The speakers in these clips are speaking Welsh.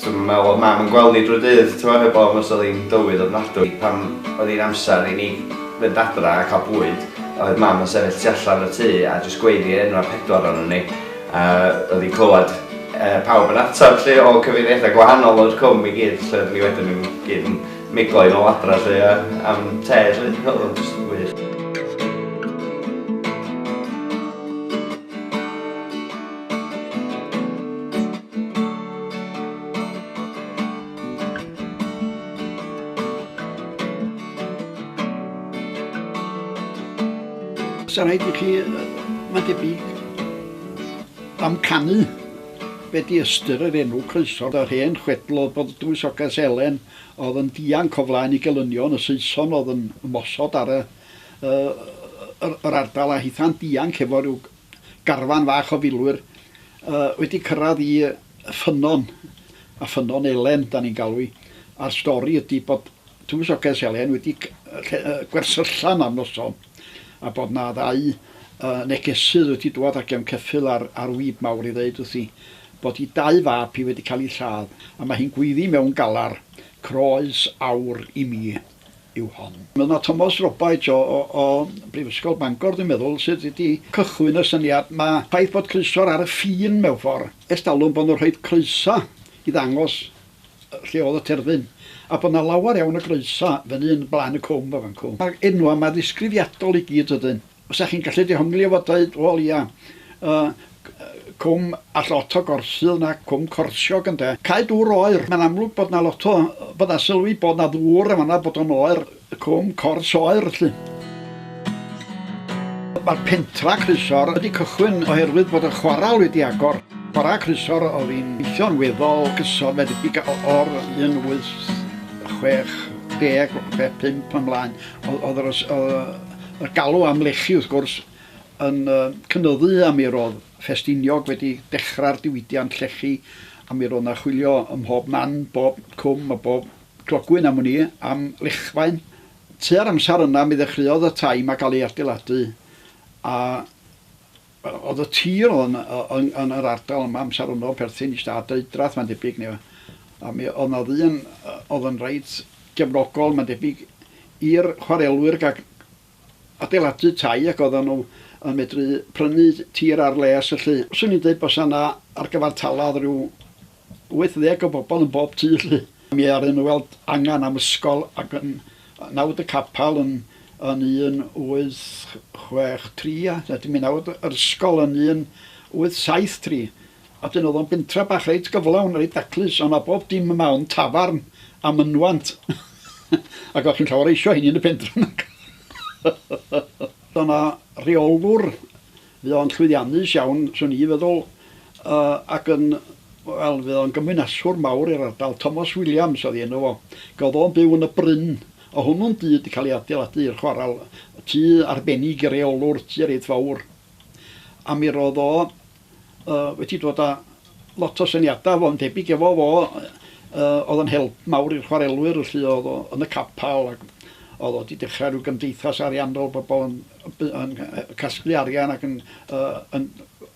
Dwi'm yn meddwl oedd Mam yn gweld ni drwy'r dydd, t'mo', heb ofn os oedd hi'n dywydd ofnadwy. Pan oedd hi'n amser i ni fynd adra a cael bwyd, oedd Mam yn sefyll tu allan y tŷ a jyst gweiddi enwau y pedwar ohonon ni, a oedd hi'n clywed pawb yn ateb 'lly o cyfeiriadau gwahanol o'r cwm i gyd, lle oedden ni wedyn yn gyd yn miglo i nôl adra 'lly a am te 'lly, oedd o'n jyst yn wych. Sa rhaid i chi, mae'n debyg, amcanu be di ystyr yr enw croeso. Yr hen chwedl oedd bod y Dywysoges Elen oedd yn dianc o flaen ei gelynion, y Saeson oedd yn ymosod ar y, yr, yr ardal a hitha'n dianc efo rhyw garfan fach o filwyr yy wedi cyrraedd i yy Ffynnon a Ffynnon Elen 'dan ni'n galw 'i a'r stori ydi bod Tywysoges Elen wedi c- yy lle- yy gwersyllan am noson a bod 'na ddau yy negesydd wedi dŵad a gefn ceffyl ar ar wib mawr i ddeud wrthi bod 'i dau fab hi wedi cael 'u lladd a ma' hi'n gweiddi mewn galar, Croes aur i mi. yw hon. Mae 'na Tomos Robaets o o Brifysgol Bangor dwi'n meddwl sydd wedi cychwyn y syniad 'ma. Ffaith bod croeso ar y ffin mewn ffor', ers talwm bo' nhw'n rhoid croeso i ddangos lle o'dd y terfyn, a bo' 'na lawer iawn o groeso fyny yn Blaen y Cwm a fan 'cw. Ma'r enwa' 'ma ddisgrifiadol i gyd ydyn. Os dach chi'n gallu dehongli efo deud, wel ia, yy cwm a llot o gorsydd na cwm corsiog ynde. Cae dŵr oer, mae'n amlwg bod 'na lot o, bod 'na sylw i bod 'na ddŵr yn fan'na, bod o'n oer, cwm cors oer 'lly. Mae'r pentra Crysor wedi cychwyn oherwydd bod y chwaral wedi agor. Bora Crysor oedd hi'n gweithio'n weddol gyson, mae'n debyg o'r 1860 pe pump ymlaen, oedd yr Mae'r galw am lechi, wrth gwrs, yn cynyddu a mi roedd Ffestiniog wedi dechrau'r diwydiant llechi a mi roedd 'na chwilio ym mhob man, bob cwm a bob clogwyn am wn i, am lechfaen. Tua'r amser yna mi ddechreuodd y tai 'ma gael eu adeiladu a Oedd y tir oedd yn yn yn yr ardal yma amser hwnnw yn perthyn i Stad Deudraeth mae'n debyg neu a mi oedd 'na ddyn oedd yn reit gefnogol mae'n debyg i'r chwarelwyr ga'l adeiladu tai ac oeddan nhw yn medru prynu tir ar les felly 'swn i'n deud bysa 'na ar gyfartaladd ryw 80 o bobl yn bob tu 'lly. Mi ddaru nhw weld angen am ysgol ac yn nawd y capel yn yn 1863 a wedyn mi nawd yr ysgol yn 1873 a wedyn o'dd o'n bentra bach reit gyflawn reit daclus o' 'na bob dim yma ond tafarn a mynwant ac o'ch chi'n llawer eisio hynny yn y pentra nac? Do' 'na reolwr Fydd o'n llwyddiannus iawn, 'swn i'n feddwl, ac yn, wel, fydd o'n gymwynaswr mawr i'r ardal. Thomas Williams oedd ei enw fo. Gafodd o'n byw yn y Bryn, o' hwnnw'n dŷ 'di cael ei adeiladu i'r chwaral, tŷ arbennig i reolwr, tŷ reit fawr. A mi ro'dd o wedi dod â lot o syniada fo, yn debyg efo fo, o'dd yn help mawr i'r chwarelwyr felly, o'dd o yn y capal ac o'dd o 'di dechra ryw gymdeithas ariannol, bobol yn yn casglu arian ac yn, uh, yn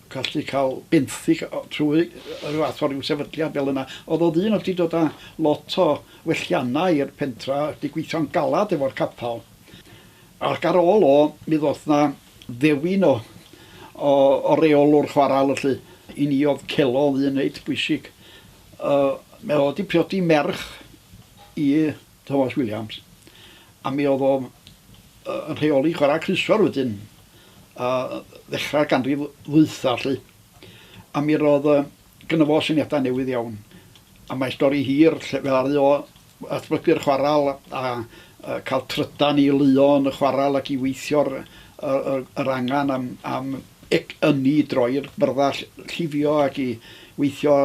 gallu cael benthyg trwy rhyw fath o ryw sefydliad fel yna. Oedd o ddyn oedd wedi dod â lot o welliannau i'r pentra, wedi gweithio'n galad efo'r capal. Ac ar ôl o, mi ddoth na ddewin o, o, o reolwr chwarael yllu. I ni oedd celo ddyn reit bwysig. Uh, mae o wedi priodi merch i Thomas Williams, a mi oedd o yn rheoli chwarae crysor wedyn, a ddechrau'r ganrif ddwytha 'lly. A mi roedd yy gynno fo syniadau newydd iawn, a mae stori hir lle fe ddaru o ddatblygu'r chwaral a yy cael trydan i luo yn y chwaral ac i weithio'r yr yr yr angen am am ec ynni i droi'r byrddau ll- llifio ac i weithio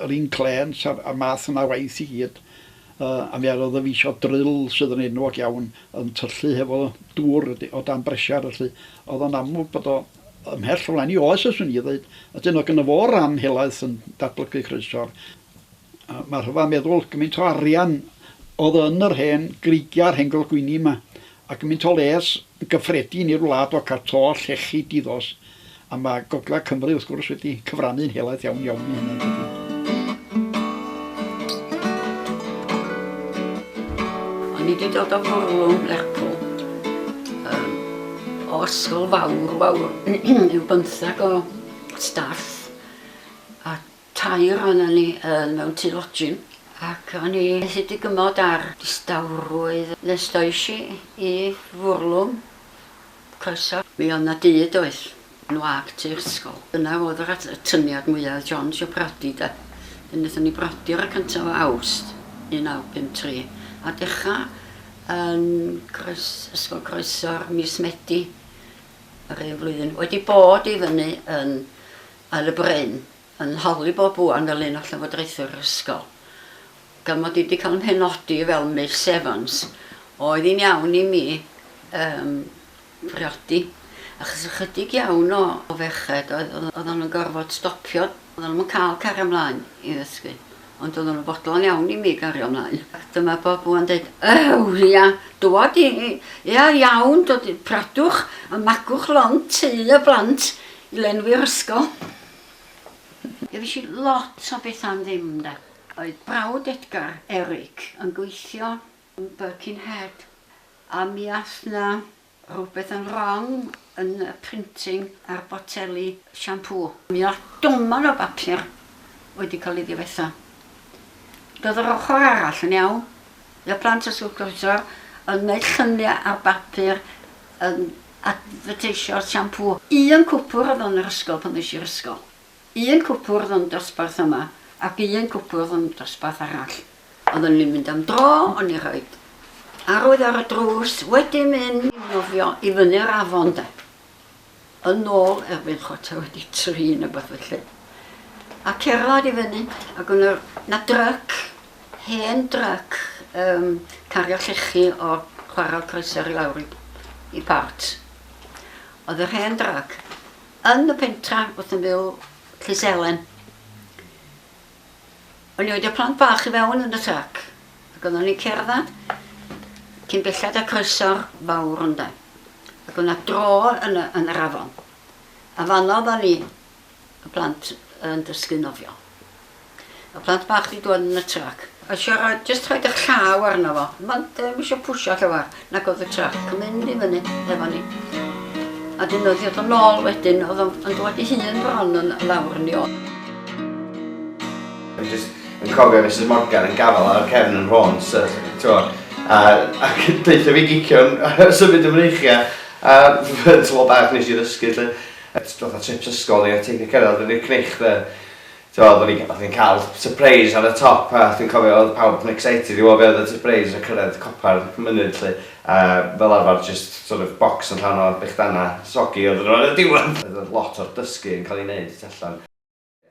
yr inclêns a'r a'r math yna o waith i gyd. A mi arodd y fis o dryll sydd yn enwog iawn yn tyllu hefo dŵr o dan bresiar felly o'dd o'n amlwg bod o ymhell o flaen 'i oes os wn i ddeud. A 'dyn o' gynno fo ran helaeth yn datblygu croesor. A ma' rhyfedd meddwl gymint o arian o'dd yn yr hen greigia a'r hen golgwyni 'ma Mae gymaint o les gyffredin i'r wlad o cael to llechi di-ddos, a mae Gogledd Cymru, wrth gwrs, wedi cyfrannu'n helaeth iawn iawn i hynna, yn dydi? O'n i 'di dod o fwrlwm Lerpwl, yym, o ysgol fawr, fawr, ryw bymthag o staff, a Tair ohonon ni yn mewn tŷ lodgin ac o'n i methu digymod â'r distawrwydd nes ddoish i i fwrlwm croeso. Mi oedd 'na dŷ doedd? Yn wag tu'r ysgol. Dyna oedd yr atyniad mwya' oedd John isio br'odi 'de. Wedyn nethon ni br'odi ar y cyntaf o Awst 1953 a dechra yn croes- ysgol croeso ar mis Medi yr un flwyddyn. Wedi bod i fyny yn yn y bryn, yn holi bob buan fel un o llywodraethwyr yr ysgol. Gan mod i wedi cael 'y mhenodi fel Miss Evans, oedd hi'n iawn i mi yym briodi, achos ychydig iawn o o ferched oedd oeddan nhw'n gorfod stopio, oeddan nhw'm yn cael cario 'mlaen i ddysgu. Ond oedd o'n fodlon iawn i mi gario mlaen. Ac dyma Bob ŵan deud, Ew, ia, dŵad i, ia, iawn, dod i pradwch a magwch lond tŷ y blant i lenwi'r ysgol. Gefish i lot o beth am ddim, 'nde. Oedd brawd Edgar, Eric, yn gweithio yn Birkenhead a mi ath 'na Rhywbeth yn wrong yn y printing ar boteli siampŵ. Mi oedd doman o bapur wedi cael ei ddifetha. Doedd yr ochr arall yn iawn. Roedd plant y Sŵt Groesawr yn gwneud lluniau ar bapur yn adfyrteisio siampŵ. Un cwpwr oedd yn yr ysgol pan ddois i'r ysgol. Un cwpwrdd yn dosbarth yma ac un cwpwrdd yn dosbarth arall. Oedden ni'n mynd am dro, o'n i roid arwydd ar y drws, wedi mynd i nofio i fyny'r afon 'de. Yn nôl erbyn chwarter wedi tri ne' wbath felly. A cerddad i fyny ac o' 'na 'na dryc, hen dryc yym cario llechi o chwarel Croeso i lawr i i Port. O'dd yr hen dryc Yn y pentra wrth ymyl Llys Helen, o'n i wedi y plant bach i fewn yn y trac, ac oeddwn ni'n cerdded cyn belled a croeso'r fawr ynde, ac o'na dro yn y, yn yr afon, a fanno oeddwn ni, y plant, yn dysgu nofio. Y plant bach di dwad yn y trac. A siarad, just rhaid eich llaw arno fo. Mae'n ddim eisiau pwysio llawar, nag oedd y trac yn mynd i fyny efo ni. A dyn oedd ddod yn ôl wedyn, oedd o'n dwad i hun bron yn lawr ni ôl. Dwi'n just yn cofio Mrs Morgan yn gafel ar cefn yn rhôn, so, twa, a, a deutha fi gicion symud y mreichiau, a fy tlo bach nes i ddysgu, lle, a fatha trips ysgol ni, a teithio cerdded yn i'r cnech, dde. T'mo' oddwn i oddwn i'n ca'l sypreis ar y top a dwi'n cofio odd pawb yn excited i w'o' be' odd y sypreis a cyrredd copa ar y mynydd 'lly a fel arfar jyst sort of bocs yn llawn o bechdana soggy oddwn nhw ar y diwedd! Oedd oedd lot o'r dysgu yn ca'l ei neud y tu allan.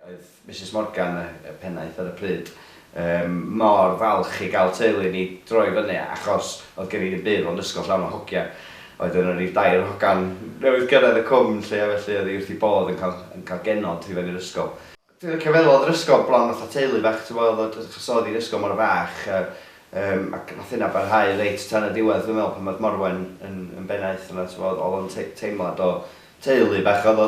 Oedd Misus Morgan y y pennaeth ar y pryd Yym mor falch i gael teulu ni droi fyny achos oedd gen i ddim byd ond ysgol llawn o hogia. Oedd yna ryw dair hogan newydd gyrraedd y cwm 'lly a felly oedd hi wrth ei bodd yn cael yn cael genod i fyny'r ysgol. Dwi'n licio feddwl oedd yr ysgol bron fatha teulu bach ti'n gwbod oedd o achos oedd hi'n ysgol mor fach a yym ac nath hynna barhau reit tan y diwedd dwi'n meddwl pan oedd Morwen yn yn bennaeth yna t'mod oedd o'n tei- teimlad o teulu bach oedd o.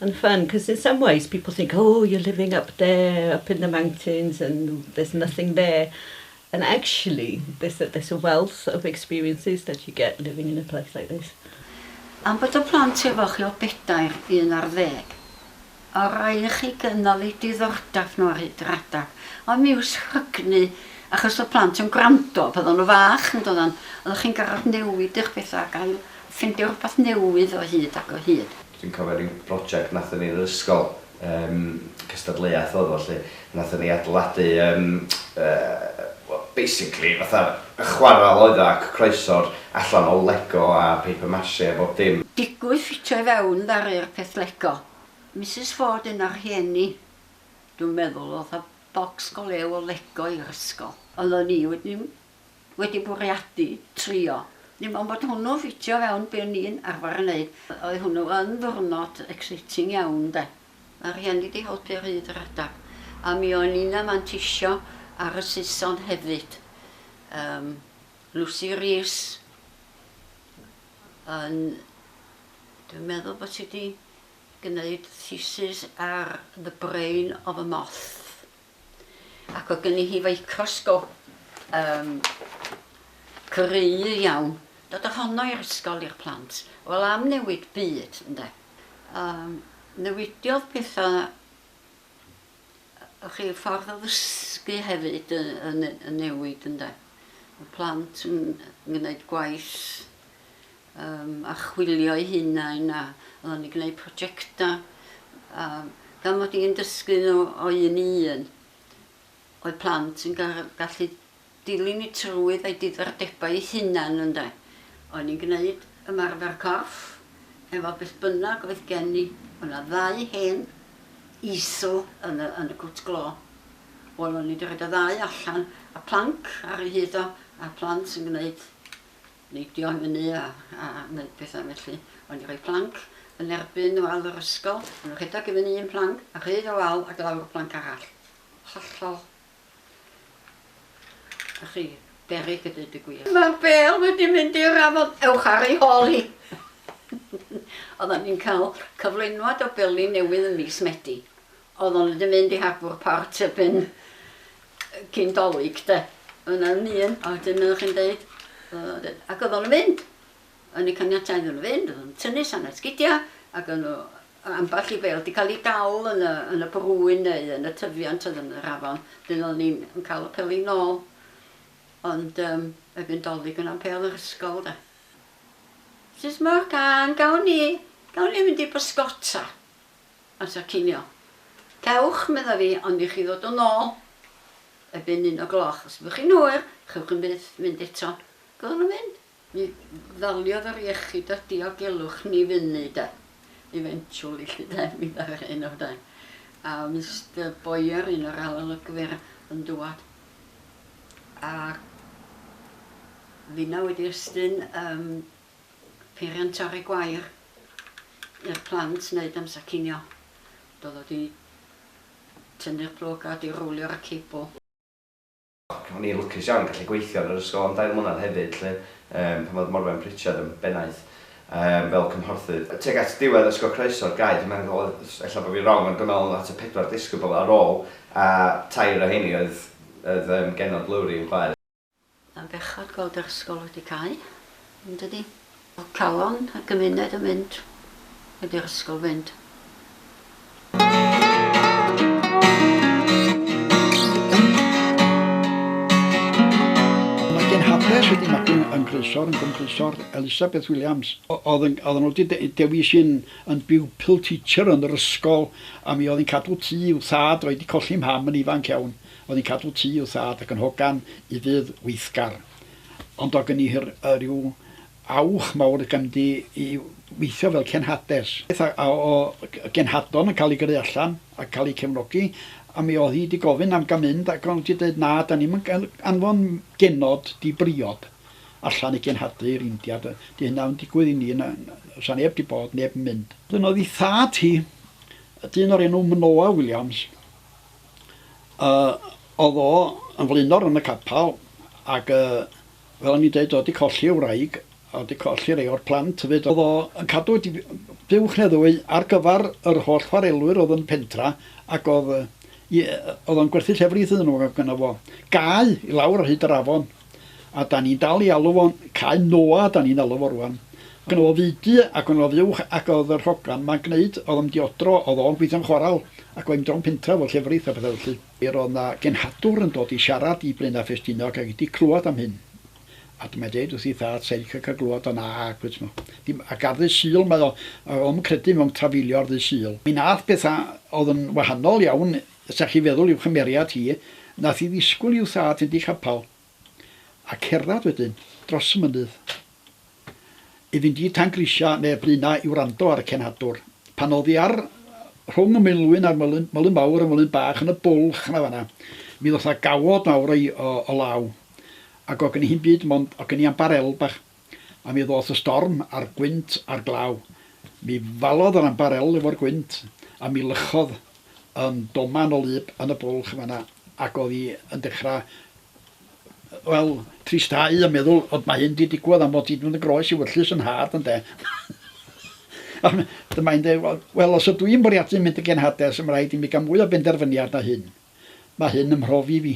And fun, cos in some ways people think oh you're living up there up in the mountains and there's nothing there and actually there's a there's a wealth of experiences that you get living in a place like this. Am fod y plant efo chi o bedair, un ar ddeg, a rhaid i chi gynnal eu diddordab nhw ar hyd yr adeg, ond mi yw'r sgrygni, achos oedd plant yn gwrando pan oedden nhw fach yn doeddan, oeddech chi'n gorfod newid eich pethau ac ail Ffeindio rhywbeth newydd o hyd ac o hyd. Dwi'n cofio ryw broject nathon ni yn yr ysgol, yym cystadleuaeth odd o 'lly, nathon ni adeiladu yym yy wel basically fatha yy chwarel oedd o ac croeso'r allan o lego a paper mache a bob dim. Digwydd ffitio i fewn ddaru'r peth lego. Misus Ford un o'r rhieni dwi'n meddwl odd a bocs go lew o lego i'r ysgol. Oeddwn i wedyn wedi bwriadu trio, dim ond bod hwnnw'n ffitio fewn be o'n i'n arfer yn neud. Oedd hwnnw yn ddiwrnod exciting iawn 'de. Mae rhieni 'di helpu ar hyd yr adeg. A mi o'n i'n manteisio ar y Saeson hefyd. Yym Lucy Rees yn dwi'n meddwl bod hi 'di gneud thesis ar The Brain of a Moth. ac oedd gynni hi feicrosgop um, cry iawn. Dod o honno i'r ysgol i'r plant. Wel am newid byd, ynde. Um, newidiodd pethau chi ffordd o ddysgu hefyd yn, yn newid ynde. Y plant yn gwneud gwaith Yym, archwilio'i hunain a oedd o'n gwneud projectau a gan mod i'n dysgu nhw o un i un oedd plant yn gallu dilyn y trywydd a'i diddordebau ei hunan ynde. O'n i'n gwneud ymarfer corff efo beth bynnag oedd gen i. O' 'na ddau hen easel yn y yn y cwt glo. Wel o'n i 'di rhoid y ddau allan a planc ar ei hyd o a plant yn gwneud neidio i fyny a neud petha felly. O'n i'n rhoi planc yn erbyn wal yr ysgol, o'n nhw'n rhedeg i fyny un planc a rhydd y wal ac lawr y planc arall. Hollol. A chi, berig y dweud y gwir. Mae'r bel wedi mynd i'r afon, ewch ar ei hol hi! Oedden ni'n cael cyflenwad o beli newydd yn mis Medi. Oeddwn i wedi mynd i harbwr port erbyn cyn Dolig de. Oedd 'na ddim un a wedyn oeddech chi'n deud ac oeddwn i'n mynd. O'n i'n caniatáu iddyn nhw fynd, oeddwn i'n tynnu sannedd sgidia ac o'n nhw ambell i fêl 'di cael ei dal yn y yn y brwyn neu yn y tyfiant oedd yn yr afon. Wedyn oeddwn i'n yn cael y peli nôl ond yym erbyn Dolig o'na'm pêl yr ysgol de. Sut ma'r cân? Gawn ni gawn ni fynd i bysgota? amser cinio. Cewch, medda fi, ond i chi ddod yn ôl erbyn un o gloch. Os byddwch chi'n hwyr, chewch yn byth fynd eto. Byddwn yn mynd. Mi ddaliodd yr iechyd a diogelwch ni fyny, 'de. Eventually, 'lly 'de, mi ddaru hyn o flaen. A Mister Boyer, un o'r arolygwyr, yn dŵad. A finna wedi estyn, yym, peiriant torri gwair i'r plant wneud amser cinio. Doedd o 'di tynnu'r plwg a 'di rowlio ar y cebl. Ac o'n i'n lwcus iawn yn gallu gweithio yn yr ysgol am dair mlynedd hefyd 'lly, yym, pan oedd Morwen Pritchard yn bennaeth, yym, fel cymhorthydd. Tuag at ddiwedd ysgol croeso'r gair, dwi'n meddwl, ella bod fi'n wrong, ond dwi'n meddwl oedd 'na tua pedwar disgybl ar ôl, a tair o rheiny oedd oedd yym genod Lowri yn chwaer. Mae'n bechod gweld yr ysgol wedi cau, yn dydi? Mae calon y gymuned yn mynd heb i'r ysgol fynd. Haples wedi marchu yn Grisor, yn Gwm Grisor, Elisabeth Williams. Oedd yn, oedd yn wedi de, dewis i'n yn pupil teacher yn yr ysgol, a mi oedd yn cadw tŷ i'w thad, oedd wedi colli mham yn ifanc iawn. Oedd yn cadw tŷ i'w thad ac yn hogan i ddŷdd weithgar. Ond o gynni hir yr yw awch mawr y gymdi i weithio fel cenhades. Beth a o genhadon yn cael ei gyrru allan ac cael eu cefnogi, a mi oedd hi 'di gofyn am ga'l mynd ac o'n i 'di deud na, 'da ni'm yn anfon genod di briod allan i genhadu i'r India, 'di hynna 'im yn digwydd i ni, 'sa neb 'di bod, neb yn mynd. Wedyn oedd ei thad hi, dyn o'r enw Manoa Williams, Yy o'dd o yn flaenor yn y capal ag yy fel o'n i'n deud o 'di colli ei wraig a o'dd 'di colli rei o'r plant hefyd. O'dd o yn cadw dip- yy buwch ne' ddwy ar gyfar yr holl chwarelwyr o'dd yn y pentra ac o'dd yy i- yy o'dd o'n gwerthu llefrith iddyn nw ag o' gynno fo gae i lawr ar hyd yr afon. A 'dan ni'n dal i alw fo'n Cae Noah 'dan ni'n alw fo rŵan. Ac o'dd o fudu ac o'n o'dd uwch ac o'dd yr hogan 'ma'n gneud o'dd o'm diodro o'dd o'n gweithio'n chwaral ac oedd 'im drom pentra efo llefrith a petha felly. Yr o'dd 'na genhadwr yn dod i siarad i Blaena Ffestiniog ac i 'di clwad am hyn a dyma'n deud wrth ei thad sai'n licio ca'l glwad o nag wyt mo. Dim ac ar ddy' Sul mae o a o'm credu mewn trafeilio ar ddy' Sul. Mi nath betha o'dd yn wahanol iawn Os dach chi'n feddwl i'w chymeriad hi, nath hi ddisgwyl i'w thad fynd i chapal a cerddad wedyn dros y mynydd i fynd i Tan Grisia neu Blaenau i wrando ar y cenhadwr. Pan o'dd hi ar rhwng y Maenlwyn a'r Myllyn, Myllyn Mawr a Myllyn Bach yn y bwlch 'na fanna, mi ddoth 'na gawod mawr o law, ac o' gen hi'm byd mond, o' gen i ambar elb bach. a mi ddoth y storm a'r gwynt a'r glaw. Mi falodd yr ambarel efo'r gwynt, a mi lychodd yn doman o lub yn y bwlch yn fan'na, ac o'dd 'i yn dechra, wel, tristau a meddwl, Od, mae hyn 'di digwad am fod ti 'di mynd yn groes i wyllys yn nhad, ynde? a dyma hi'n deud, Wel, wel, os ydw i'n bwriadu mynd yn genhades, mae'n rhaid i mi gael mwy o benderfyniad na hyn. Mae hyn yn mhrofi fi.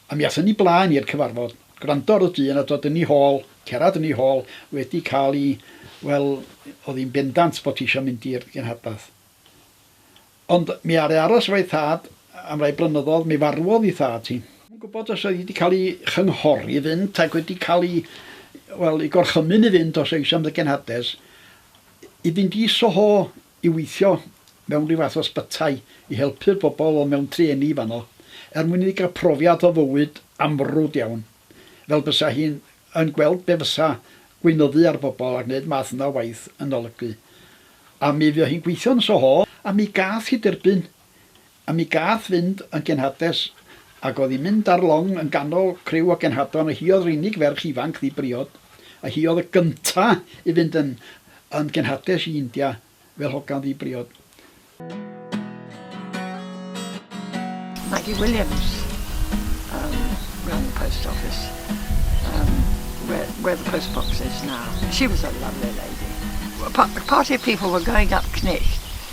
A mi athon ni blaen i'r cyfarfod, gwrando ar y dyn a dod yn ei hôl, cerad yn ei hôl, wedi cael i, wel, oedd hi'n bendant bod hi isio mynd i'r gynhadlaeth. Ond mi aru aros efo'i thad am rai blynyddoedd, mi farwodd ei thad hi. Dwi'm yn gwybod os oedd hi wedi cael ei chynghori i fynd ac wedi cael ei, wel, ei gorchymyn i fynd os oedd hi isio mynd i'r genhades, i fynd i Soho i weithio mewn rhyw fath o ysbytai i helpu'r bobl oedd mewn trueni fanno, er mwyn iddi gael profiad o fywyd amrwd iawn, fel bysa hi yn gweld be fysa gweinyddu ar bobl a gwneud math yna o waith yn olygu. A mi fuo hi'n gweithio yn y Soho, a mi gath hi derbyn A mi gath fynd yn genhades, ac o'dd hi'n mynd ar long yn ganol criw o genhadon, a hi o'dd yr unig ferch ifanc ddi-briod, a hi o'dd y gynta' i fynd yn yn genhades i India fel hogan ddi-briod. Maggie Williams yym ran y post office yym where where the post box is now. She was a lovely lady. P- party of people were going up Cnicht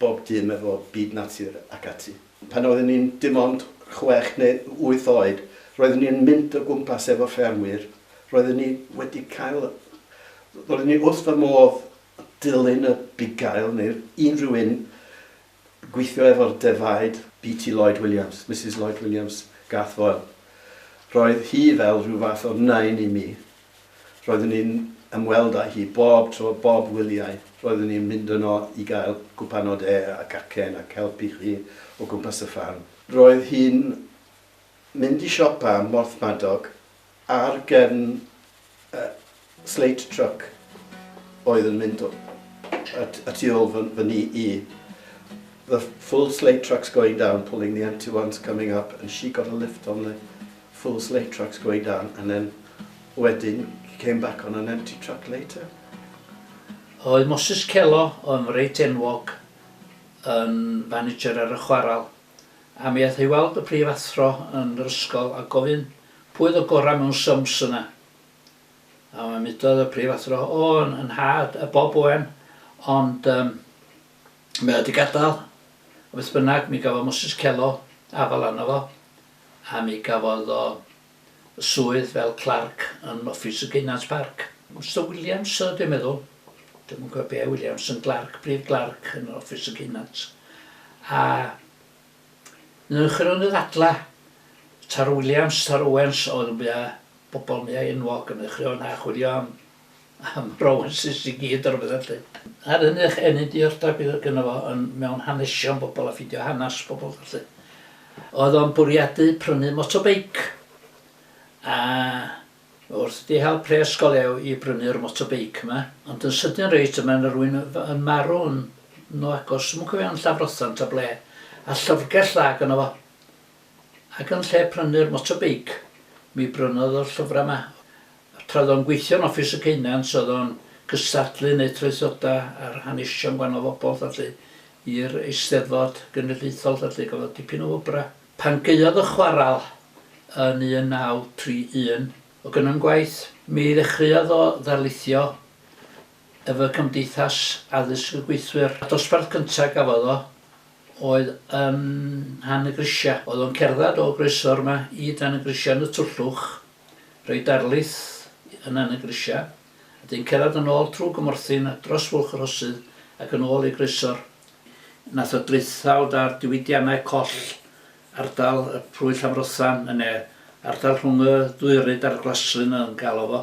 bob dim efo byd natur ac ati. Pan oeddwn ni'n dim ond chwech neu wyth oed, roeddwn ni'n mynd o gwmpas efo ffermwyr, roeddwn ni wedi cael... roeddwn ni wrth fy modd dilyn y bugail neu unrhyw un gweithio efo'r defaid. BT Lloyd Williams, Misus Lloyd Williams, Garth Foyle. Roedd hi fel rhyw fath o nain i mi. Roeddwn i'n ymweld â hi bob tro, bob wyliau, roeddwn i'n mynd yno i gael cwpan o de a cacen ac helpu hi o gwmpas y ffarm. Roedd hi'n mynd i siopa ym Mhorthmadog ar gefn y slate truck oedd yn mynd y tu ôl fy ni i, the full slate trucks going down, pulling the empty ones coming up and she got a lift on the full slate tracks going down and then wedyn he came back on an empty track later. Oedd Moses Kelo yn reit enwog yn fanager ar y chwaral a mi ath o i weld y prif athro yn yr ysgol a gofyn pwy oedd y gorau mewn sums yna a mae mudodd y prif athro o yn, yn nhad y Bob Owen ond um, mae o wedi gadael a beth bynnag mi gafodd Moses Kelo afal arno fo a mi gafodd o swydd fel clarc yn offis y Gaynant Parc. Mister Williams oedd o dwi'n meddwl, dwi'm yn cofio be' Williams yn glarc, brif glarc yn offis y Gaynant. A newch ddadla, ta'r Williams, ta'r Owens oedd yn fwya' bobol yn fwya' enwog yn y chrio 'na chwilio am am romances i gyd a rwbeth felly. Ar hynny o'ch enni diddordab bydd oedd gynno fo yn mewn hanesion bobl a ffidio hanas pobl felly. Oedd o'n bwriadu prynu motobeic a wrth di hel pres go lew i brynu'r motobeic yma ond yn sydyn reit yma yna rwy'n yn marw yn nhw agos yn cofio yn Llafrothan ta ble a llyfrgell dda gynno fo ac yn lle prynu'r motobeic mi brynodd o'r llyfrau yma Tra oedd o'n gweithio yn Office y Ceunant oedd o'n cystadlu neu traethoda ar hanesion gwahanol fobl felly i'r Eisteddfod Genedlaethol felly gafodd o dipyn o wobra. Pan gaeodd y chwaral yn 1931 o gynnon gwaith mi ddechreuodd o ddarlithio efo Cymdeithas Addysg y Gweithwyr. Y dosbarth cynta gafodd o oedd yn Nhan y Grisia. Oedd o'n cerddad o Groeso rwma i Dan y Grisia yn y Twllwch Rhoi darlith yna yn y grisiau, a dyn cerdded yn ôl trw gymorthyn a dros fwlch y rhosydd ac yn ôl i groesor nath o draethawd ar diwydiannau coll ardal y plwy Llanfrothan yn ne ardal rhwng y ddwy ryd a'r glaslyn yn galo fo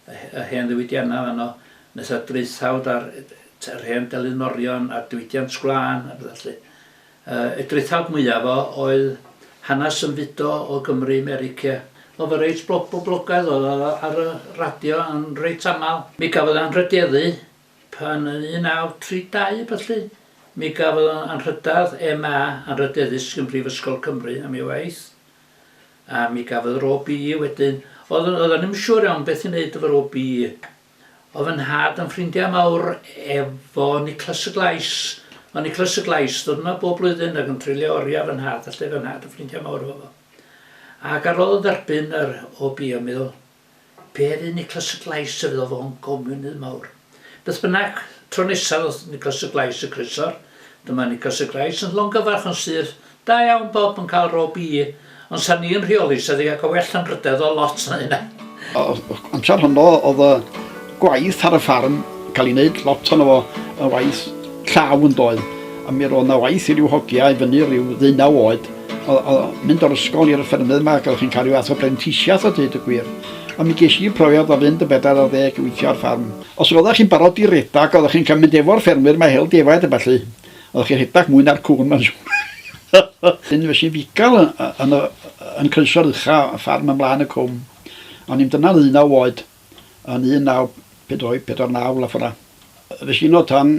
y hen ddiwydiannau fanno netha draethawd ar yr hen delyn morion a diwydiant gwlân a petha lly Yy y drithawd mwyaf o oedd hanas yn fudo o Gymru i Merica. Oedd o reit blo- boblogaidd oedd o ar y radio yn reit amal. Mi gafodd anrhydieddu pan yn 1932 a ballu mi gafodd o anrhydedd MA anrhydeddus gyn Brifysgol Cymru am ei waith a mi gafodd yr OBE wedyn. Oedd oedd o ddim yn siŵr iawn beth i neud efo'r OBE. Oedd fy nhad yn ffrindiau mawr efo Niclas y Glais. Oedd Niclas y Glais ddod yma bob blwyddyn ac yn treulio oriau fy nhad, felly oedd fy nhad yn ffrindiau mawr efo fo. Ac ar ôl dderbyn yr OB yn meddwl, be fydd Niclas y Glais y fydd o'n gomiwnydd mawr. Beth bynnag, tro nesaf oedd Niclas y Glais y Crysor, dyma Niclas y Glais yn llongyfarch yn syth Da iawn Bob yn cael rôl Bee ond sa ni'n rheoli sa di cael well llanrydedd o lot na hynna. O'r amser honno oedd y gwaith ar y ffarm cael ei wneud lot ono fo yn waith llaw yn doedd a mi roedd na waith i ryw hogia i fyny ryw ddeunaw oed oedd mynd o'r ysgol i'r ffermydd yma ac oedd chi'n cael rhyw fath o brentisiaeth a dweud y gwir a mi ges i profiad o fynd yn bedair ar ddeg i weithio ar ffarm. Os oeddech chi'n barod i redeg oeddech chi'n cael mynd efo'r ffermwyr mae hel defaid a ballu. Oedd chi'n rhedeg mwy na'r cŵn ma'n siŵr. Wedyn fues i'n fugail yn y yn croeso'r ucha y ffarm ymlaen y cwm. O'n i'n dyna ddeunaw oed yn 1948 naw la ffor'a. Fues i yno tan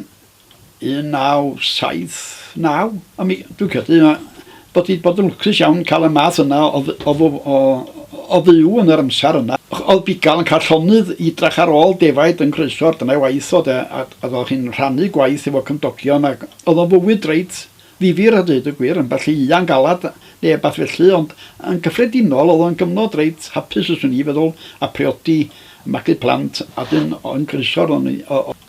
1979 a mi dwi'n credu Bod hi 'di bod yn lwcus iawn cael y math yna o o o o o fyw yn yr amser yna. O'dd bugail yn cael llonydd i drach ar ôl defaid yn croeso, dyna'i waith o de, a a o'dd hi'n rhannu gwaith efo cymdogion ac o'dd o'n fywyd reit ddifyr a deud y gwir, ambell i ian galad ne' wbath felly ond yn gyffredinol o'dd o'n gyfnod reit hapus fyswn i feddwl a priodi a magu plant a 'dyn yn croeso arnon ni o o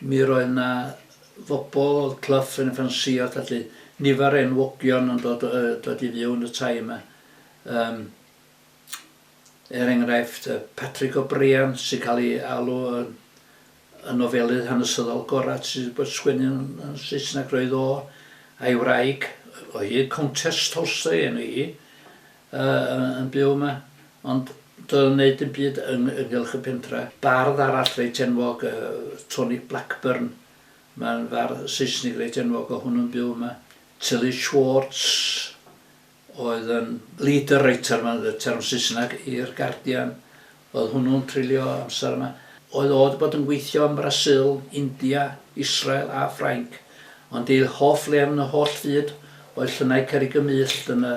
Mi roedd 'na fobol, o'dd Clough yn ffansïo, felly nifer o enwogion yn dod yy dod i fyw yn y tai yma. Yym er enghraifft yy Patrick O'Brian sy'n cael ei alw yn y nofelydd hanesyddol gora' sy' 'di bod sgwennu yn yn Saesneg roedd o a'i wraig o hyd Countess Tolstoy enw hi yy yn byw yma ond doedd o'n neud dim byd yng- ynghylch y pentra. Bardd arall reit enwog yy Tony Blackburn mae'n fardd Seisnig reit enwog o' hwnnw'n byw yma. Tilly Schwartz oedd yn leader writer mae'n y term Saesneg i'r Guardian oedd hwnnw'n treulio amser yma. Oedd o 'di bod yn gweithio ym Mrasil, India, Israel a Ffrainc ond ei hoff le yn y holl fyd oedd Llynau Cerrig y Myllt yn y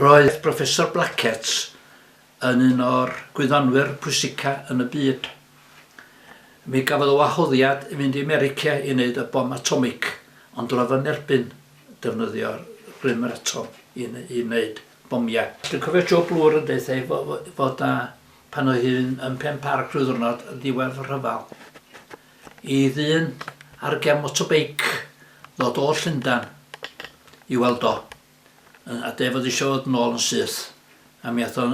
Roedd Professor Blackett yn un o'r gwyddonwyr pwysica yn y byd. Mi gafodd y wahoddiad i fynd i America i wneud y bom atomig, ond roedd yn erbyn defnyddio rym yr atom i i wneud bomiau. Dwi'n cofio Joe Bloor yn deutha i fod na pan oedd hi'n yn Pen Parc rhyw ddwrnod yn ddiwedd y rhyfel. i ddyn ar gefn motobeic ddod o Llundain i weld o yy a deu' fod isio fod nôl yn syth a mi ath o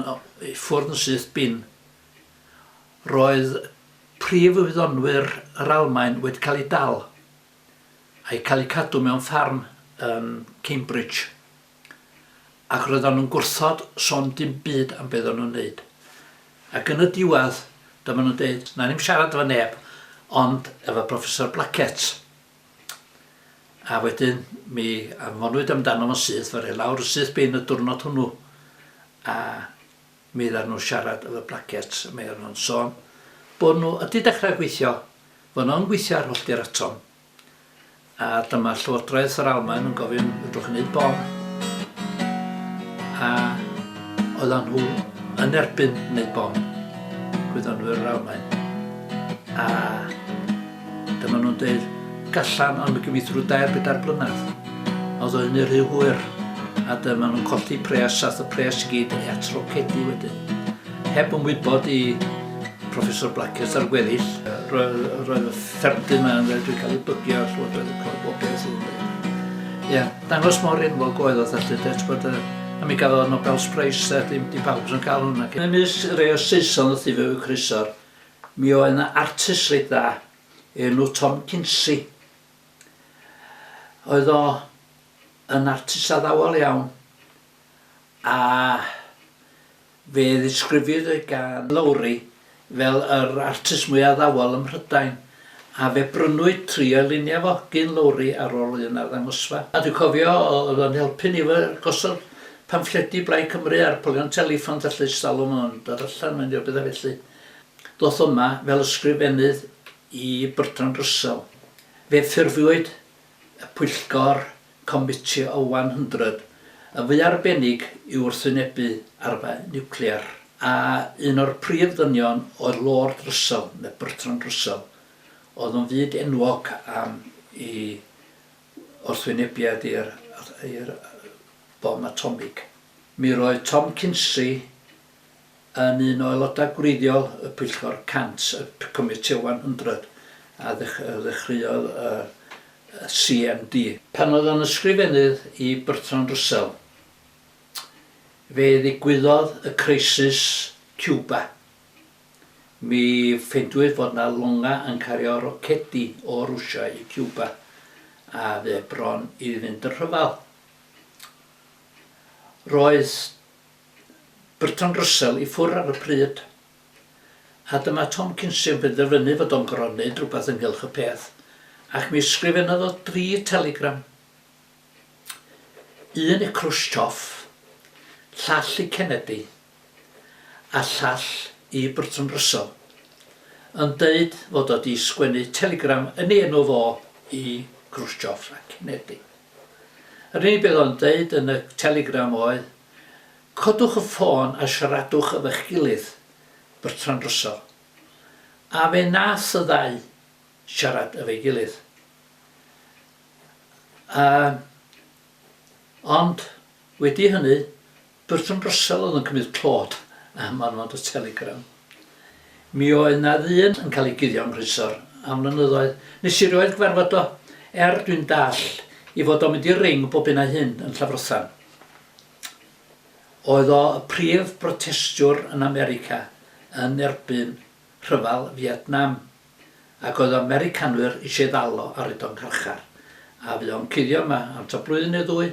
i ffwrdd yn syth bin. Roedd prif wyddonwyr yr Almaen wedi cael eu dal a'u cael eu cadw mewn ffarm yn Cambridge. Ac roeddan nhw'n gwrthod son dim byd am be oeddan nhw'n neud. Ac yn y diwedd, dyma nhw'n deud, na ni'm siarad efo neb, ond efo Professor Blackett. A wedyn, mi anfonwyd amdano fo'n syth, fe rei lawr y syth bin y diwrnod hwnnw, a mi oeddan nhw'n siarad efo Blackett, a mi oeddan nhw'n son bod nhw ydi dechrau gweithio, fod nhw'n gweithio ar hollti'r atom, A dyma Llywodraeth yr Almaen yn gofyn, fedrwch chi wneud bom? A oedden nhw yn erbyn wneud bom, gwyddonwyr yr Almaen. A dyma nhw'n dweud, gallan, ond mi gyfeithru dair bedair blynedd. A oedd o hynny rhy hwyr, a dyma nhw'n colli pres, ath y pres i gyd at rocedi wedyn. Heb yn wybod i Proffesor Blackett a'r gweddill. Roedd, roedd y ffermdy yma yn wedi cael ei bygio a llywodraeth yn cael bob beth yn dweud. Ia, dangos mor enwog oedd oedd allu dweud bod y a mi gafodd y Nobel Prize a dim, dim pawb yn cael hwnna. Yn ymysg rei o Saeson wrth i fe eu croesor, mi oedd yna artist reit dda, enw Tom Kinsey. Oedd o yn artist addawol iawn a Fe ddisgrifiwyd e gan Lowri fel yr artist mwyaf addawol ym Mhrydain, a fe brynwyd tri o'i luniau fo gyn Lowri ar ôl un arddangosfa. A dwi'n cofio, oedd o'n helpu ni efo gosod pamffledi Blaid Cymru ar polion teleffon felly, ers talwm oedd o'n dod allan mewn i ryw bethau felly. Ddoth o yma fel ysgrifennydd i Bertrand Russell. Fe ffurfiwyd y pwyllgor Comiti o 100, yn fwy arbennig i wrthwynebu arfau niwclear, a un o'r prif ddynion oedd Lord Russell, neu Bertrand Russell, oedd yn fyd enwog am i wrthwynebiad i'r i'r bom atomig. Mi roedd Tom Kinsey yn un o aelodau gwreiddiol y pwyllgor 100, y Committee 100, a ddechreuodd y CMD. Pan oedd o'n Ysgrifennydd i Bertrand Russell, fe ddigwyddodd y crisis Cuba. Mi ffeindwyd fod 'na longau yn cario rocedi o Rwsia i Cuba, a fe bron i fynd yn rhyfel. Roedd Bertrand Russell i ffwr ar y pryd a dyma Tom Kinsey yn penderfynu fod o'n gorfod neud rhywbeth ynghylch y peth ac mi ysgrifennodd o dri telegram. Un i Khrushchev, llall i Kennedy a llall i Bertrand Russell yn deud fod o 'di sgwennu telegram yn ei enw fo i Khrushchev a Kennedy. Yr unig beth oedd o'n deud yn y telegram oedd, codwch y ffôn a siaradwch efo'ch gilydd, Bertrand Russell. A fe nath y ddau siarad efo'i gilydd. A, ond wedi hynny, Burton Russell oedd yn cymryd clod am fannod y Telegram. Mi oedd 'na ddyn yn cael ei guddio yng Nghrysor am flynyddoedd. Nes i rioed gyfarfod o, er dwi'n dall i fod o'n mynd i'r ring bob hyn a hyn yn Llafrothan. Oedd o y prif brotestiwr yn America yn erbyn Rhyfel Fietnam, ac oedd y Americanwyr eisiau ddal o ar hyd o'n carchar. A fu o'n cuddio yma am ta blwyddyn neu ddwy.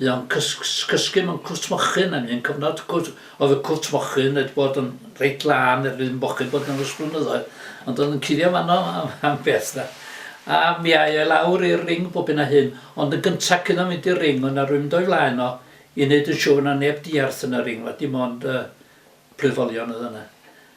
Fu o'n cysgu mewn cwt mochyn, a un cyfnod cwt, oedd y cwt mochyn wedi bod yn reit lân er ddim mochyn bod yn ys blynyddoedd, ond oedd yn cuddio fanno am, am beth da. A mi ai e lawr i'r ring bob hyn a hyn, ond yn gyntaf cyn o'n mynd i'r ring, oedd na rwy'n mynd o'i flaen o i wneud yn siŵr na neb diarth yn y ring, na dim ond uh, plwyfolion oedd yna.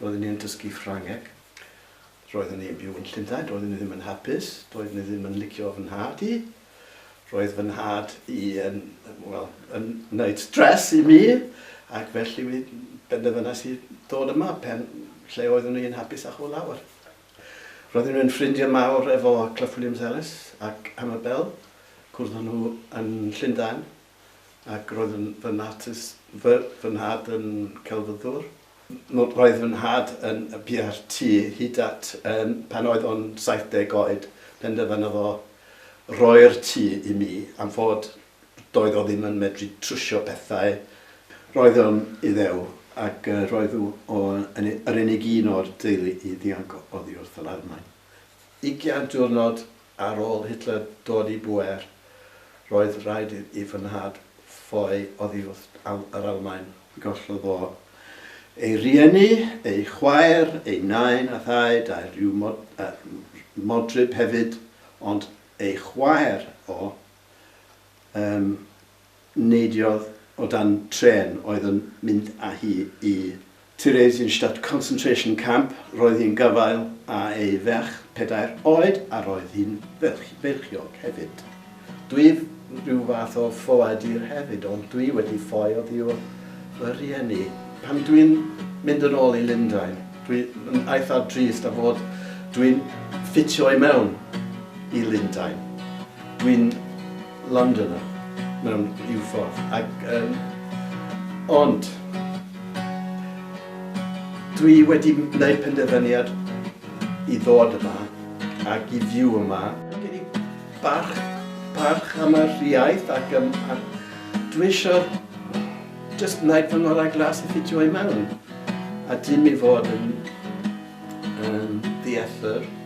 Roeddwn i yn dysgu Ffrangeg. Roeddwn i yn byw yn Llundain. Roeddwn i ddim yn hapus. Doeddwn i ddim yn licio fy nhad i. Roedd fy nhad i yn, wel, yn wneud stres i mi, ac felly mi benderfynais i ddod yma, pen lle oeddwn i yn hapus â hwyl lawer. Roeddwn i'n ffrindiau mawr efo Clough Williams-Ellis ac Annabelle. Cwrddon nhw yn Llundain. ac roedd yn fy natus, fy, fy nhad yn celfyddwr. Roedd fy nhad yn biau'r tŷ hyd at um, pan oedd o'n 70 oed, penderfynodd o roi'r tŷ i mi am fod doedd o ddim yn medru trwsio pethau. Roedd o'n Iddew ac uh, roedd o yn yr unig un o'r deulu i ddianc oddi wrth yr Almaen. Ugian diwrnod ar ôl Hitler dod i bŵer, roedd rhaid i fy nhad ffoi oddi wrth yr Almaen. Gollodd o ei rieni, ei chwaer, ei nain a thaid a rhyw modryb hefyd, ond ei chwaer o, yym, Neidiodd o dan trên oedd yn mynd â hi i Theresienstadt Concentration Camp. Roedd hi'n gafael â ei ferch pedair oed a roedd hi'n feichiog hefyd. Dwi rhyw fath o ffoadur hefyd ond dwi wedi ffoi oddiwrth fy rhieni. Pan dwi'n mynd yn ôl i Lundain dwi yn eitha drist a fod dwi'n ffitio i mewn i Lundain. Dwi'n Londoner mewn rhyw ffordd ac yym ond dwi wedi neud penderfyniad i ddod yma ac i fyw yma. Mae gen i barch barch am yr iaith ac yym a dwi isio jyst neud fy ngorau glas i ffitio i mewn a dim i fod yn yym ddiethr.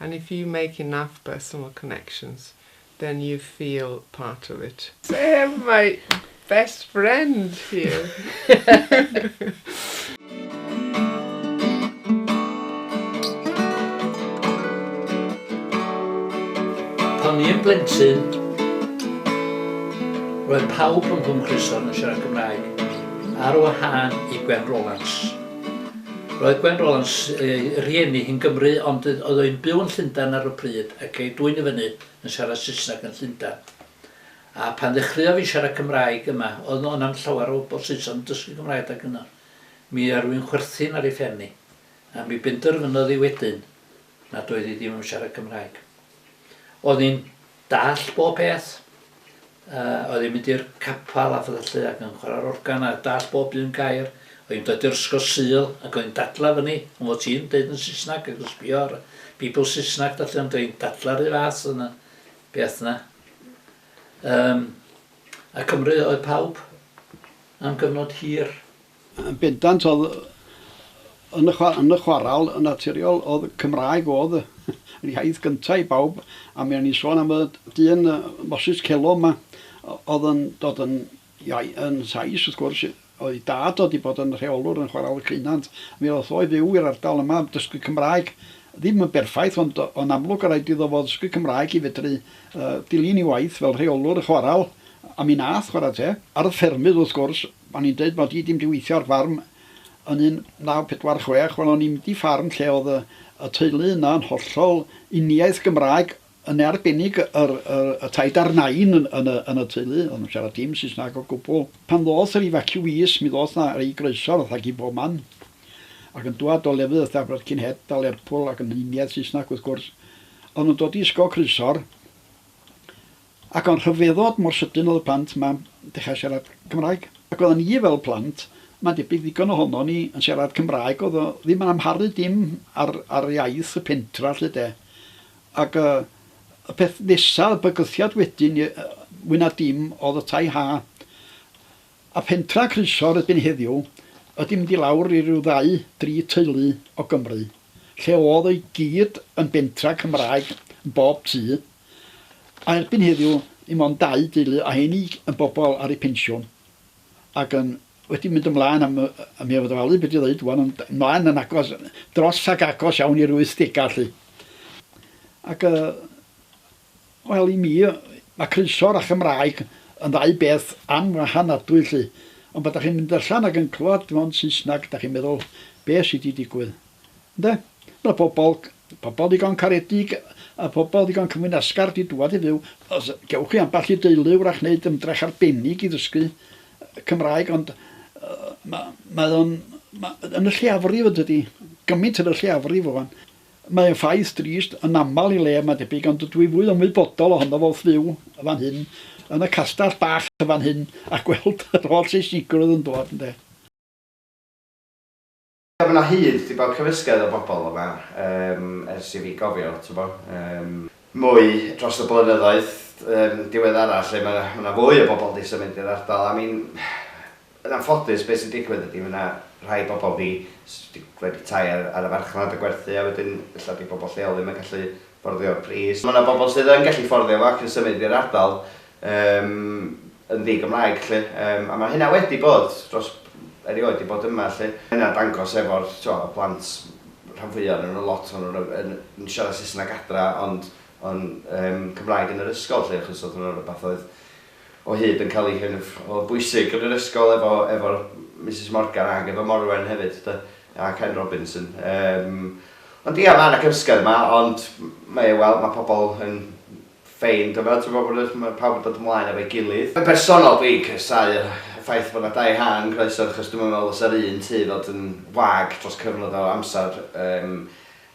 and if you make enough personal connections then you feel part of it. Damn my best friend here! Pan o'n i'n blentyn, roedd pawb yn fy nghroeso yn siarad Cymraeg, ar wahân i Gwen Rolands. Roedd Gwen Rollans, ei rieni hi'n Gymru ond oedd o yn byw yn Llundain ar y pryd ac ei dwyn i fyny yn siarad Saesneg yn Llundain. A pan ddechreuof i siarad Cymraeg yma, oedd o na'm llawer o bobl Saeson yn dysgu Cymraeg adeg yna. Mi rwy'n chwerthin ar ei phen hi. A mi benderfynodd hi wedyn nad oedd hi ddim am siarad Cymraeg. Oedd hi'n Dallt bob peth. Yy oedd hi'n mynd i'r capal a phetha llu ac yn chwara'r organ a dallt bob un gair. Oedd hi'n dod i'r ysgol Sul ac oedd hi'n dadla fyny am fod ti'n deud yn Saesneg ac yn sbio ar Beibl Saesneg da llu ond oedd hi'n dadla rhy fath yn y beth yna. Yym a Cymru oedd pawb am gyfnod hir. Yn bendant oedd yn y yn y chwaral yn naturiol oedd Cymraeg oedd yr iaith gynta' i bawb a mi o'n i'n sôn am y dyn Moses Celo 'ma oedd yn dod yn iau- yn Sais wrth gwrs oedd 'i dad o 'di bod yn rheolwr yn chwaral y Ceunant mi ddoth o i fyw i'r ardal yma am dysgu Cymraeg ddim yn berffaith ond o'n amlwg o' raid iddo fo ddysgu Cymraeg i fedru yy dilyn 'i waith fel rheolwr y chwaral a mi nath chwara teg. Ar y ffermydd wrth gwrs O'n i'n deud mod i 'di mynd i weithio ar ffarm yn 1946, wel o'n i'm 'di ffarm lle o'dd y teulu yna yn hollol uniaith Gymraeg, yn arbennig yr yr y taid a'r nain yn yn y yn y teulu, o'dd nw'n siarad dim Saesnag o gwbwl. Pan ddoth yr ifaciwîs mi ddoth 'na rei groeso fatha gin bob man, ac yn dwad o lefydd fatha Birkenhead a Lerpwl ac yn uniaith Saesnag wrth gwrs, o'dd nw'n dod i ysgol Croesor, Ac o'n rhyfeddod mor sydyn oedd y plant 'ma dechrau siarad Cymraeg. Ac oeddan ni fel plant, mae'n debyg ddigon ohonon ni, yn siarad Cymraeg, oedd o ddim yn amharu dim ar ar iaith y pentra 'lly de. Ac yy y peth nesa, y bygythiad wedyn yy mwy na dim oedd y tai ha. A phentra Croesor erbyn heddiw ydi mynd i lawr i ryw ddau, dri teulu o Gymru, lle oedd o i gyd yn bentra Cymraeg yn bob tŷ. A erbyn heddiw, dim ond dau deulu a hynny yn bobl ar eu pensiwn ac yn wedi mynd ymlaen am y y mi o'dd ofalu be' dwi ddeud ŵan ond ymlaen yn agos dros ac agos iawn i'r wythdega 'lly. Ac yy wel i mi yy ma' croeso a Chymraeg yn ddau beth anwahanadwy 'lly ond pan 'dach chi'n mynd allan ac yn clwad dim ond Saesnag 'dach chi'n meddwl be' sy' 'di digwydd? Ynde? Mae pobl, pobl ddigon caredig a phobl ddigon cyflwyn asgard i dŵad i fyw. Os gewch chi ambell i deulu wrach wneud ymdrech arbennig i ddysgu Cymraeg ond ma- mae o'n, ma- yn y lleiafrif yntydi? Gymaint yn y lleiafrif rŵan. Mae o'n ffaith drist, yn aml i le mae'n debyg ond dwi fwy ymwybodol ohono fo wrth fyw yn fan hyn, yn y castell bach yn fan hyn a gweld yr holl Seisnigrwydd yn dod ynde. Ie ma' 'na hyd di bod cymysgedd o bobl yma yym ers i fi gofio t'bo yym mwy dros y blynyddoedd yym diweddara lle ma' 'na ma' 'na fwy o bobl di symud i'r ardal I mean yn anffodus be sy'n digwydd ydi ma' 'na rhai bobl di s- di wedi tai ar ar y farchnad a gwerthu a wedyn ella di bobl lleol ddim yn gallu fforddio pris ma' 'na bobl sydd yn gallu fforddio fo ac yn symud i'r ardal Yym, yn ddi-Gymraeg 'lly. Yym, a ma' hynna wedi bod dros, erioed 'di bod yma 'lly. Ma' hynna'n dangos efo'r, t'mo', y plant, rhan fwya o'nyn nw, lot o'nyn nw yn yn siarad Saesneg adra ond yn yym Cymraeg yn yr ysgol 'lly achos o'dd hwnna'n rwbath oedd o hyd yn ca'l 'i kind of, o'dd bwysig yn yr ysgol efo efo Misus Morgan ag efo Morwen hefyd 'de, a Ken Robinson. Yym, ond ia ma' 'na gymysgedd yma ond mae e, wel, ma' pobol yn Fine, dyna ti'n gwbod bod y... ma' pawb yn dod ymlaen efo'i gilydd. Yn bersonol dwi'n casáu yr ffaith bod 'na dau hân yn croeso achos dwi'm yn meddwl fysa'r un tŷ fod yn wag dros cyfnod o amser yym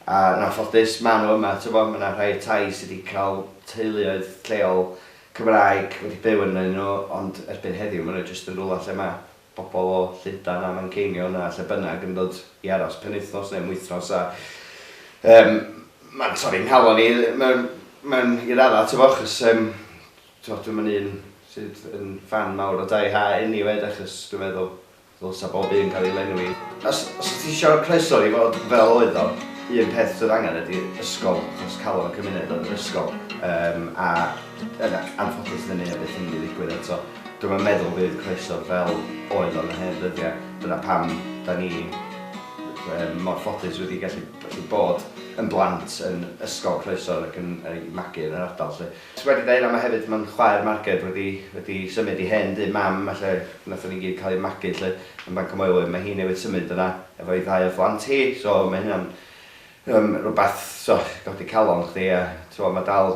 a yn anffodus ma' nhw yma t'wbo' ma' 'na rhai tai sy' 'di ca'l teuluoedd lleol Cymraeg wedi byw ynnyn nhw ond erbyn heddiw ma' nhw jyst yn rwla lle ma' bobl o Llundain a Manceinion a lle bynnag yn dod i aros penwythnos neu am wythnos a yym mae'n torri nghalon i mewn mewn i radda t'bo' achos yym t'bo' dwi'm yn un sydd yn ffan mawr o Dai Ha eniwe de achos dwi'n meddwl ddylsa bob un ga'l ei lenwi. Os os wt ti isio croeso i fod fel oedd o, un peth sydd angen ydi ysgol achos calon y cymuned oedd yr ysgol yym a yn anffodus 'dy ni o byth yn mynd i ddigwydd eto. Dwi'm yn meddwl bydd croeso fel oedd o yn y hen ddyddiau, dyna pam 'da ni yym mor ffodus wedi gallu gallu bod yn blant yn ysgol Croeso ac yn yy i magu yn yr ardal 'lly. Ti wedi deud hynna, mae hefyd mae'n chwaer Marged wedi wedi symud i hen dŷ Mam a lle wnaethon ni gyd cael ein magu 'lly yn Bancamoelwyn, mae hi newydd symud yna efo'i ddau o phlant hi so mae hynna'n yym rywbeth so godi calon chdi a t'mo' ma' dal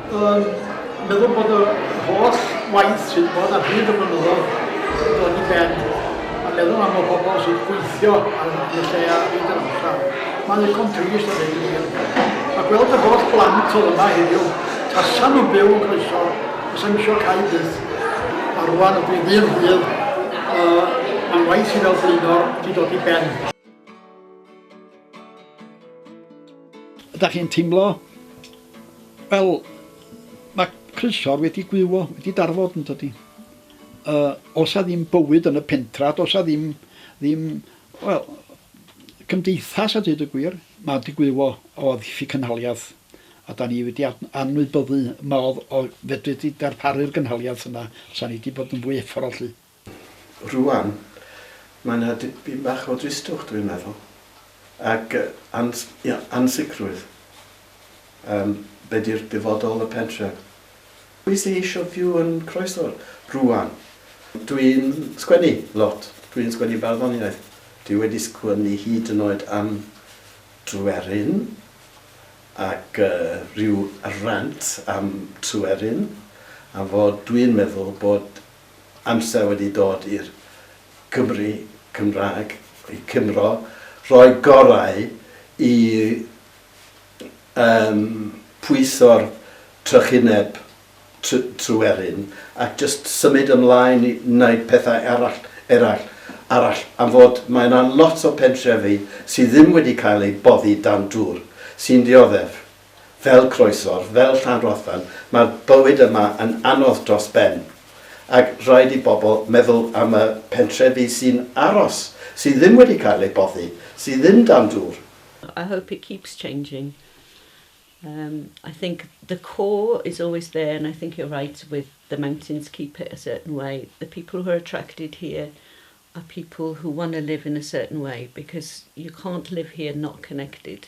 Yn meddwl bod yr holl waith sydd 'di bod ar hyd y blynyddodd wedi dod i ben a meddwl am y bobl sy'n gweithio ar y lle a hyd yr amser. Mae'n ddigon trist a dweud y gwir. A gweld yr holl blant oedd yma heddiw, tasan nhw'n byw yn croeso, fysa misio cau byth. A rwan ydw i ddyn rhydd, uh, mae'n waith i fel blaenor wedi dod i ben. Ydych chi'n teimlo fel mae croeso'r wedi gwywo, wedi darfod yn dydy? Uh, os a ddim bywyd yn y pentra, os a ddim, ddim wel, cymdeithas a dweud y gwir, mae wedi gwywo o ddiffyg cynhaliaeth a da ni wedi anwybyddu modd o fedru di darparu'r gynhaliaeth yna, os a ni wedi bod yn fwy efforol lly. Rŵan, mae 'na dipyn bach o dristwch, dwi'n meddwl, ac ans- ia, ansicrwydd am be 'di'r dyfodol y pentref. Pwy sy eisiau byw yn Croesffordd rŵan? Dwi'n sgwennu lot, dwi'n sgwennu barddoniaeth, dwi wedi sgwennu hyd yn oed am Dwerin ac ryw rant am Tryweryn, am fod dwi'n meddwl bod amser wedi dod i'r Cymry Cymraeg, i Cymro, roi gorau i yym pwyso'r trychineb tr- truerin ac jyst symud ymlaen i wneud pethau arall eraill arall am fod mae yna lot o pentrefi sydd ddim wedi cael eu boddi dan dŵr sy'n dioddef Fel croesor, fel Llanrothan, mae'r bywyd yma yn anodd dros ben, ac rhaid i bobl meddwl am y pentrefi sy'n aros, sy ddim wedi cael eu boddi, sy ddim dan dŵr. I hope it keeps changing. Erm, I think the core is always there and I think you're right with the mountains keep it a certain way. The people who are attracted here are people who want to live in a certain way because you can't live here not connected.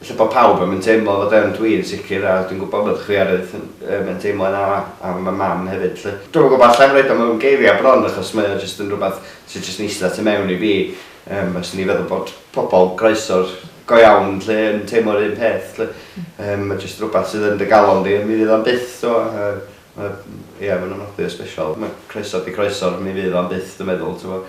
Ella bod pawb ddim yn teimlo fod yn, dwi yn sicr, a dwi'n gwybod bod chwi Arith, yym, yn teimlo yna am y mam hefyd 'lly. Dwi'm yn gwybod, alla i'm roid o mewn geiriau bron achos mae o jyst yn rywbeth sydd jyst yn eistedd tu mewn i fi, yym, a 'swn i'n feddwl bod pobl groesawr go iawn 'lly yn teimlo'r un peth 'lly. Yym, mae jyst rywbeth sydd yn dy galon di a mi fydd o'm byth, t'mod, yy, mae, ia, ma'n ofnadwy o sbeshal. Mae croeso 'di croeso, mi fydd o'm byth dwi'n meddwl, t'mod.